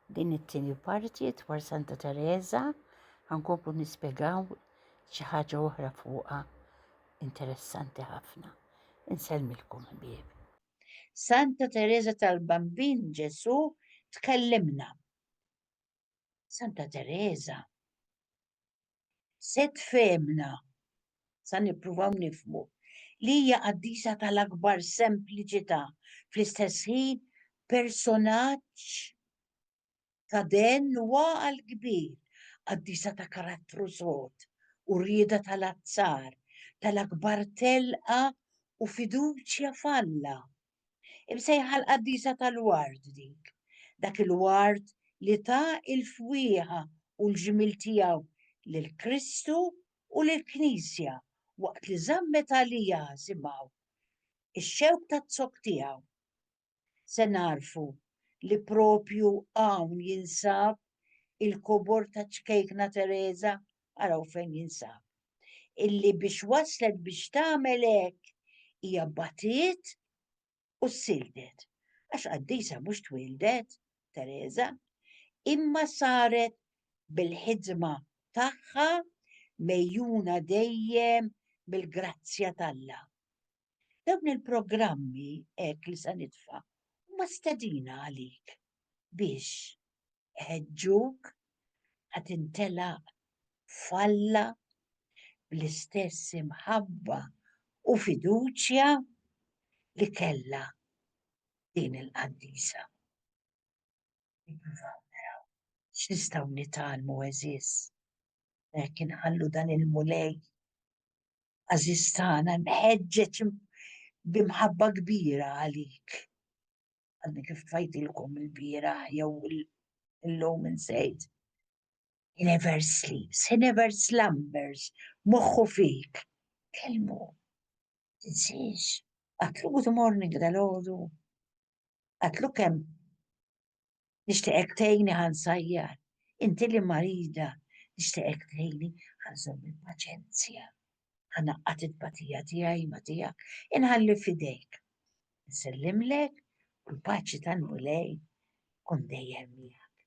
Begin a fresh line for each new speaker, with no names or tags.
Din it-tieni parti dwar Santa Teresa ħankomplu nispjegaw xi ħaġa oħra fuqha interessanti ħafna. Insellmilkom ħbieb. Santa Teresa tal-Bambin Ġesù tkellimna. Santa Teresa Set fehmna, sa nippruvaw nifhmu, li hija qaddisa tal-akbar sempliċità, fl-istess ħin personaġġ ta' den u għaqal kbir, qaddisa ta' karattru sod u rieda tal-azzar, tal-akbar telqa u fiduċja f'Alla, Imsejħa l-qaddisa tal-ward dik. Dak il-ward li ta il-fwieħa u l-ġmiel tiegħu lil Kristu u lill-Knisja waqt li żammet għalija simgħu x-xewk taz-zokk tiegħu. Se nagħrfu li proprju hawn jinsab il-kobor taċ-Ċkejkna Tereża araw fejn jinsab, illi biex waslet biex tagħmel hekk hija batiet u sildet. Għax qaddisa mhux twildet, Teresa, imma saret bil-ħidma tagħha mejjuna dejjem bil-grazzja t'Alla. Dawn il-programmi hekk li se nitfa' huma stedina għalik biex iħeġġuk ħa tintelaq f'Alla bl-istess imħabba u fiduċja li kellha din il-qaddisa. Nippruvaw naraw x'nistgħu nitgħallmu għeżież hekk inħallu dan il-Mulej Għażiż tagħna, imħeġġeġ bi mħabba kbira għalik. Għadni kif tfajtilkom il-bieraħ jew illum insejt. He never sleeps, he never slumbers, moħħu fik. Kelmu, tinsiex, għatlu good morning dal-ħodu, għatlu kem Nixtieqek tgħinni ħa nsajjar. Inti li marida, nixtieqek tgħinni ħa nżomm il-paċenzja. Ħa ngħaqqad it-tbatija tiegħi ma' tiegħek, inħalli f'idejk. Nsellimlek u l-paċi tal-Mulej tkun dejjem miegħek.